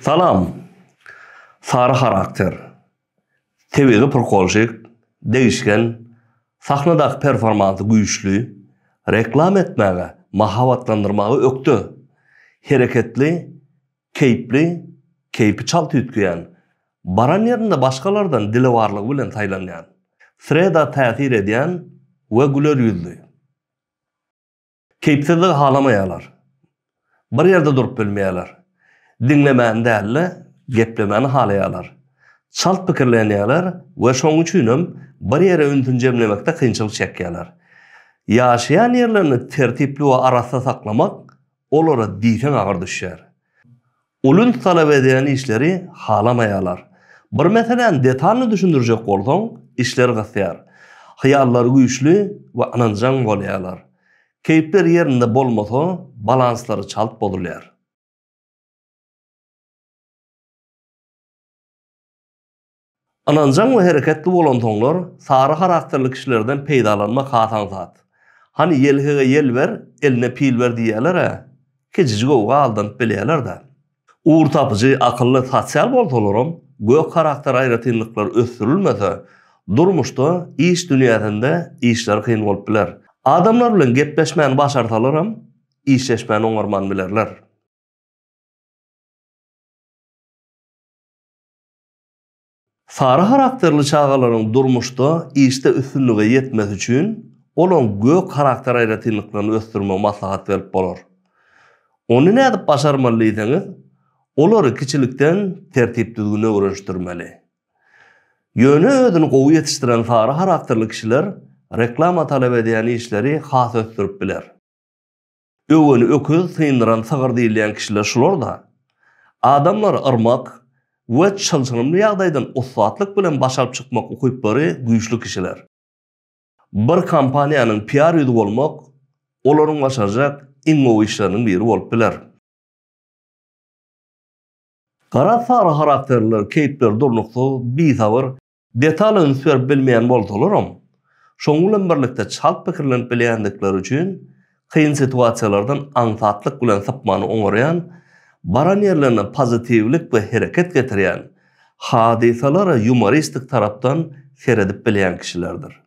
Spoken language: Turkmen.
Salam. Sary harakter, tebigy prkolşik, degişgen, sahnadaky performansy güýçli, reklama etmäge, mahabatlandyrmaga ökde, hereketli, Keýpli, keýpi çalt üýtgeýän, baran ýerinde başgalardan dilewarlygy bilen saýlanýan, sreda täsir edýän we güler ýüzli. Keýpsizligi halamaýarlar. Bir ýerde durup bilmeýärler. Diňlemäni däl-de, geplemäni halaýarlar. Çalt pikirlenýärler we şonuň üçinem bir ýere ünsüni jemlemekde kynçylyk çekýärler. Ýaşaýan ýerlerini tertipli we arassa saklamak Olara diýseň agyr düşýär. Ulins talap edýän işleri halamaýarlar. Bir meseläni detalny düşündirjek bolsaň, işler gysýar. Hyýallary güýçli we ynanjaň bolýarlar. Keýpleri ýerinde bolmasa, balanslary çalt bozulýar. Ynanjaň we hereketli bolansoňlar, sary harakterli kişilerden peýdalanmak has aňsat. Hany ýelhege ýel ber, eline pil ber diýýäler-ä. Kejijik owga aldanyp bilýärler-dä. Ugurtapyjy, akylly, sosial bolsalaram, gök harakter aýratynlyklary ösdürilmese, durmuşda, iş dünýäsinde işleri kyn bolup biler. Adamlar bilen gepleşmäni başarsalaram, işleşmäni oňarman bilerler. Sary harakterli çagalaryň durmuşda, işde üstünlige ýetmesi üçin olaryň gök harakter aýratynlyklaryny ösdürmegi maslahat berip bolar. Ony nädip başarmaly diýseňiz, olary kiçilikden tertip-düzgüne öwrenişdirmeli. Ýöne özüni gowy ýetişdiren sary harakterli kişiler reklama talap edýän işleri has ösdürip biler. Öwgeni öküz, syndyran sygyr diýilýän kişiler şular-da. Adamlary yrmak we çylşyrymly ýagdaýdan ussatlyk bilen baş alyp çykmak ukyplary güýçli kişiler. Bir kompaniýanyň PR ýüzi bolmak olaryň başarjak iň gowy işleriniň biri bolup biler. Garaz, sary harakterliler keýpleri durnuksyz, bisabyr, Detala üns berip bilmeýän bolsalaram, şonuň bilen birlikde çalt pikirlenip bilýändikleri üçin kyn situasiýalardan aňsatlyk bilen sypmany oňarýan, baran ýerlerine pozitiwlik we hereket getirýän, hadysalara ýumoristik tarapdan seredip bilýän kişilerdir.